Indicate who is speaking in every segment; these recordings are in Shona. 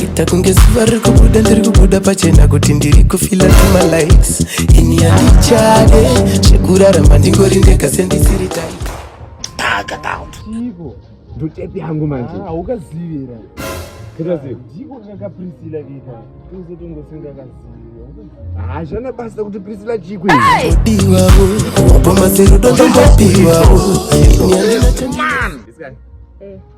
Speaker 1: Ita kunge zuva riri kubuda ndiri kubuda pachena kuti ndiri kufila tuma likes ini handichade zvekurarama ndingori ndega sendisiri tai taka down Chiiko? ndotepi yangu manje Ah, ukazivira. Ndikaziva. Ndiko kaka Priscilla vika. Uze tongosenga kaziva. hazvana basa kuti prisila chikwi diwawo wapamaserudo ndombodiwawo ini handina chandina This guy.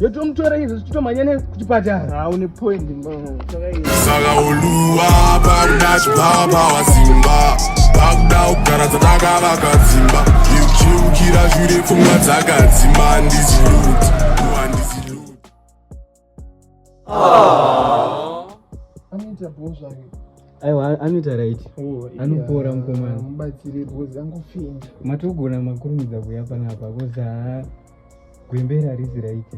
Speaker 1: yotomutora izvo zvichitomhanya nekuchipatara haune point saka uluwa pakuda chibaba wasimba pakuda kugara dzatakavaka dzimba iuchiukira zvire pfungwa dzakadzimba ndizilut andizilut anoita bhozvake aiwa anoita right oh, anopora mukomana mubatsire bhozi angofenda matogona makurumidza kuya panapa koza gwembera rizi raite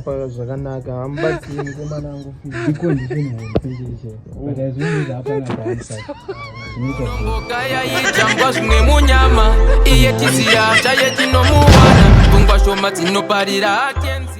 Speaker 1: paka zvakanaka hamubatsiri mukomana angu iko ndichinohonpeicheicheaaaaaitangwa zvimwe munyama iye tisiya chaye tinomuwana pfungwa shoma dzinoparira akenzi